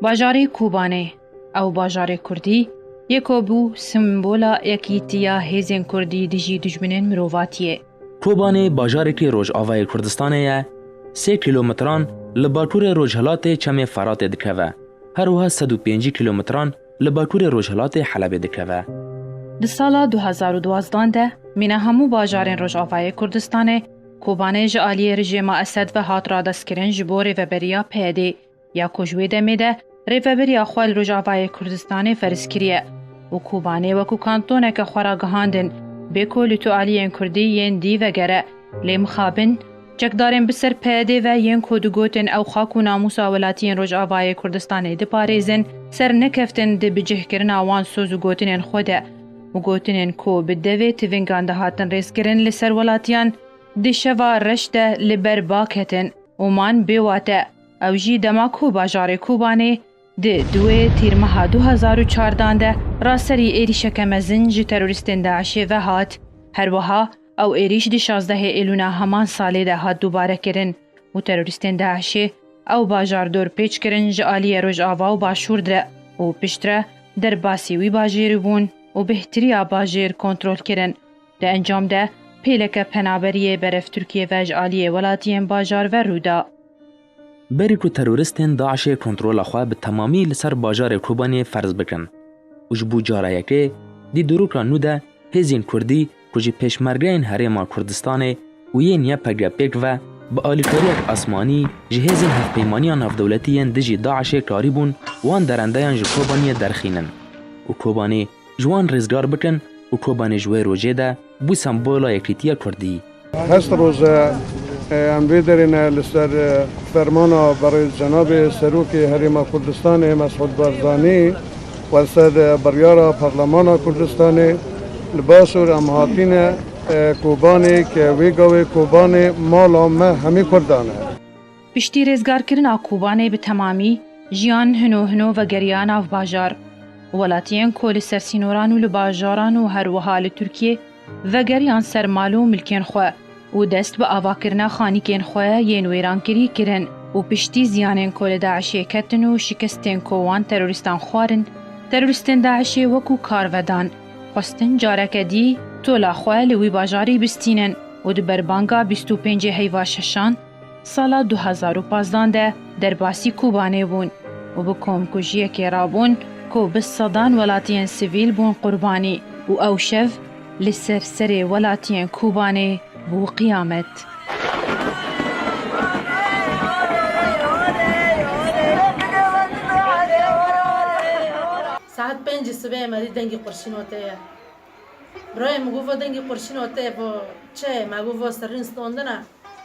Bajarê Kobanê, ew bajarê kurdî ye ku bû simbola yekîtiya hêzên kurdî dijî dijminên mirovatiyê. Kobanê bajarekî rojavayê Kurdistanê ye, sê kîlometran li bakurê rojhilatê Çemê Feratê dikeve, her wiha sed û pêncî kîlometran li bakurê rojhilatê Helebê dikeve. Di sala du hezar û duwazdeh de mîna hemû bajarên rojavayê Kurdistanê, Kobanê ji aliyê rijêma Esed ve hat radestkirin ji bo rêveberiya PYDê ya ku ji wê demê de rêvebiriya xwe li Rojavayê Kurdistanê ferz kiriye û Kobanê wekû kantoneke xwe ra gihandin bê ku li tu aliyên Kurdî yên dî vegere lê mixabin çekdarên bi ser PYDê ve yên ku digotin ew xak û namûsa welatiyên Rojavayê Kurdistanê diparêzin sernekeftin di bicihkirina wan soz û gotinên xwe de û gotinên ku bi devê tivîngan dihatin rêzkirin li ser welatiyan di şeva reş de li ber ba ketin û man bê wate. Ew jî dema ku bajarê Kobanê di duwê Tîrmeha du hezar û çar dan de ra serî êrîşeke mezin ji terorîstên DAIŞ'ê ve hat. Her wiha, Ew êrîş di şazdehê Êlûna heman salê de hat dubare kirin û terorîstên DAIŞ'ê ew bajar dor pêç kirin ji aliyê Rojava û Başûr de û piştre derbasî wî bajêrî bûn û bêhtiriya bajêr kontrol kirin. Di encam de pêleke penaberiyê berevTurkiyê ve ji aliyê welatiyên bajar ve rû da. Berî ku teroristên DAIŞ'ê kontrola xwe bi temamî li ser bajarê Kobaniyê ferz bikin û ji bo cara yekê di dûrûka nû de hêzên kurdî ku ji pêşmergeyên Herêma Kurdistanê û yên YPG pêk ve bi alîkariyek asmanî ji hêzên hevpeymaniya navdewletî yên dijî DAIŞ'ê karîbûn wan derendeyan ji Kobaniyê derxînin û Kobanî ji wan rêzgar bikin û Kobanê ji wê rojê de bû sembola yekîtiya Kurdî. Hest roz e em vê derê ne li ser fermana berêz cenabê Serokê Herêma Kurdistanê Mesûd Barzanî û li ser biryara Parlemana Kurdistanê li Başûr em hatîne Kobanê ke wê gavê Kobanê mala me hemî Kurdan e. Piştî rêzgarkirina Kobanê bi temamî jiyan hino hino vegeriya nav bajar. Welatiyên ku li ser sînoran û li bajaran û her wiha li Tirkiyê vegeriyan ser mal û milkên xwe û dest bi avakirina xanîkên xwe yên wêrankirî kirin û piştî ziyanên ku li DAIŞ'ê ketin û şikestên ku wan terorîstan xwarin, terorîstên DAIŞ'ê wekû kar vedan, xwestin careke dî tola xwe li wî bajarî bistînin û di berbanga bîst û pêncê heyva şeşan, Sala du hezar û pazdeh de derbasî Kobanê bûn û bi komkujiyekê re bûn ku bi sedan welatiyên sivîl bûn qurbanî û ew şev li ser serê welatiyên Kobanê bû qiyamet. Saet pêncî sibê Emerî dengê qurşîn û tê ye. Rayê min gova dengê qurşîn o tê bo çeyê ma gova serrîn stondina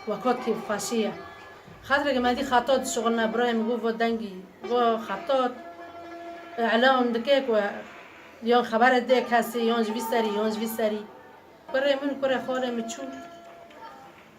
wa kot kî xweşî ye. Xatireke ma dî xatot dişuxulina birayê min gova dengî wa xatot îlan dike ku yan xeberê dê kesî yan ji vî serî yan ji vî serî. Kurê min kurê xalê min çû.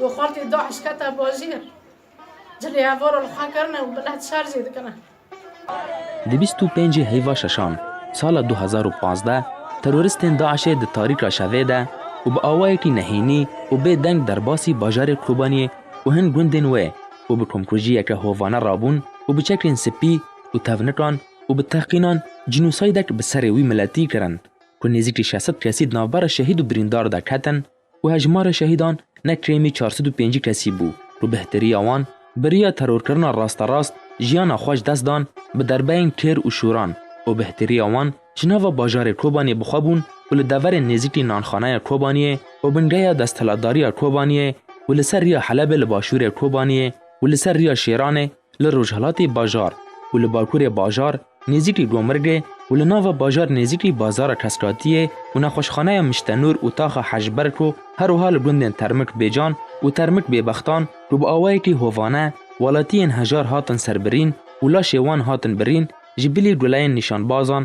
Û xaltê DAIŞ kete bajêr. Cilê hevora li xwe kirine û milet şer jê dikine. Di bîst û pêncî heyva şeşan sala du hezar û pazdeh teroristên DAIŞ'ê di tarîka şevê de û bi awayekî nehênî û bê deng derbasî bajarê Kobaniyê û hin gundên wê û bi komkujiyeke hovane rabûn û bi çekrên spî û tevnikan û bi teqînan cînosaydek bi serê wî miletî kirin ku nêzîkî şeş sed kesî di navbera şehîd û birîndar de ketin û hejmarê şehîdan ne kêmî çar sed û pêncî kesî bû û bihteriya wan biriya terorkirina rasterast jiyana xwe ji dest dan bi derbeyên kêr û şûran û bihteriya wan ji nava bajarê Kobaniyê bi xwe bûn û li deverên nêzîkî Nanxanaya Kobaniyê û bingeya desthilatdariya Kobaniyê û li ser riya Helebê li başûrê Kobaniyê û li ser riya Şêranê li rojhilatê bajar û li bakurê bajar nêzîk li Gomirgê û li nava bajar nêzîk li Bazara Keskatiyê û nexweşxaneya Miştenûr û Taxa Hejberko herwiha li gundên Termik Bêcan û Termik Bêbextan ku bi awayekî hovane welatiyên hejar hatin serbirîn û laşê wan hatin birîn ji bilî gulayên nîşanbazan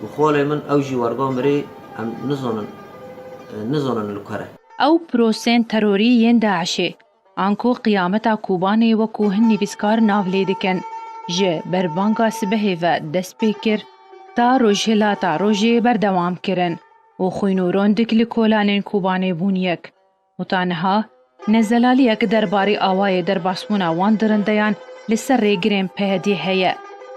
Bi xolê min ew jî wergo mirî em nizonin nizonin li kure. Ew prosên terorî yên DAIŞê, anko qiyameta Kobanê wekû hin nivîskar nav lê dikin, ji berbanga sibehê ve dest pê kir ta rojhilata rojê berdewam kirin û xwîn û rondik li kolanên Kobanê bûn yek. Hota niha ne zelaliyek derbarê awayê derbasbûna wan dirindeyan li ser rêgirên PYD'ê heye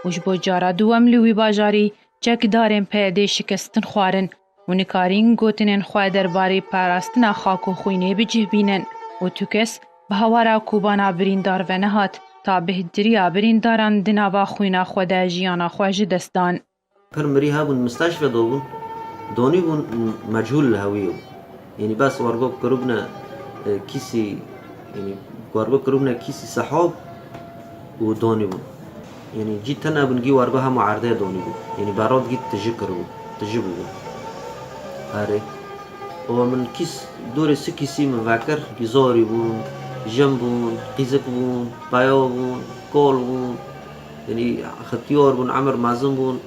û ji bo cara duwem li wî bajarî çekdarên PYD şikestin xwarin û nikarîn gotinên xwe derbarê parastina xak û xwînê bi cih bînin û tu kes bi hawara kobana birîndar ve nehat ta bêhtirîya birîndaran di nava xwîna xwe de jiyana xwe ji dest dan. Pir mirî hebûn misteşve dobûn donî bûn mechûl li hew yo. Yanî bes wergo kiribûne kîsî yanî wergo kiribûne kîsî sehob û donî bûn. Yanî cî tune bûn gî wergo hemû erdê donî bûn. Yanî berod gî tiji kiribûn. Tiji bûbûn. Herê. Û min kîs dorê si kîsî min vekir. Gî zorî bûn, jin bûn, qîzik bûn, peyo bûn, kol bûn. Yanî Xityor bûn, Emir Mezin bûn.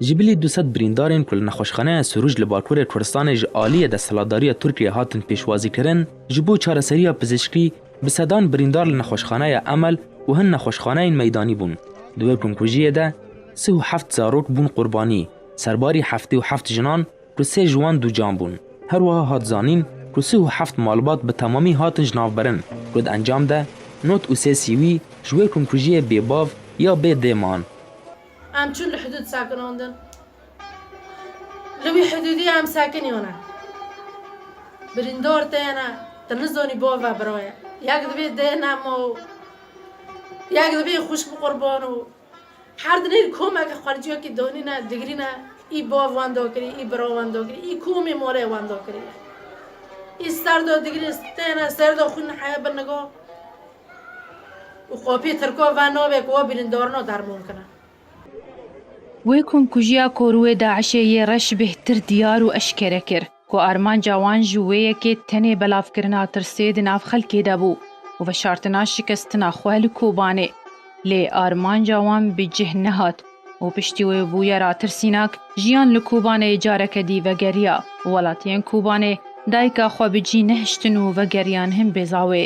Ji bilî du sed birîndarên ku li nexweşxaneya Sûrûj li bakurê Kurdistanê ji aliyê desthilatdariya Tirkiyeyê hatin pêşwazîkirin, ji bo çareseriya pizîşkî bi sedan birîndar li nexweşxaneya Emel û hin nexweşxaneyên meydanî bûn. Di wê komkujiyê de sih û heft zarok bûn qurbanî, serbarî heftê û heft jinan, ku sê ji wan dûcan bûn. Her wiha hat zanîn ku sih û heft malbat bi temamî hatin ji navberin ku di encam de not û sê sîwî ji wê komkujiyê bê bav ya bê dê man. Em çûn li hidûd sekinandin. Li wî hidûdî em sekiniyane. Birîndar tê ne, tu nizanî bav e bira ye. Yek divê dê nema û yek divê xwişk bi qurban û Her dinêr komeke xwelciyokî donîne digrîne î bav wan do kirî î bira wan do kirî î komê malê wan do kirî ye. Î ser do digrîne têne ser do xwîn heye bi nigo û qopî tirko ve navê ku we bînin darino derman kine. Wê komkujiya koruwê DAIŞ'ê yê reş bêhtir diyar û eşkere kir. ku armanca wan ji wê yekê tenê belavkirina tirsê di nav xelkê de bû û veşartina şikestina xwe li Kobanê. Lê armanca wan bi cih nehat û piştî wê bûye ratirsînak, jiyan li Kobanê careke dî vegeriya. Welatiyên Kobanê dayika xwe bi cî nehiştin û vegeriyan hin Bêzawê.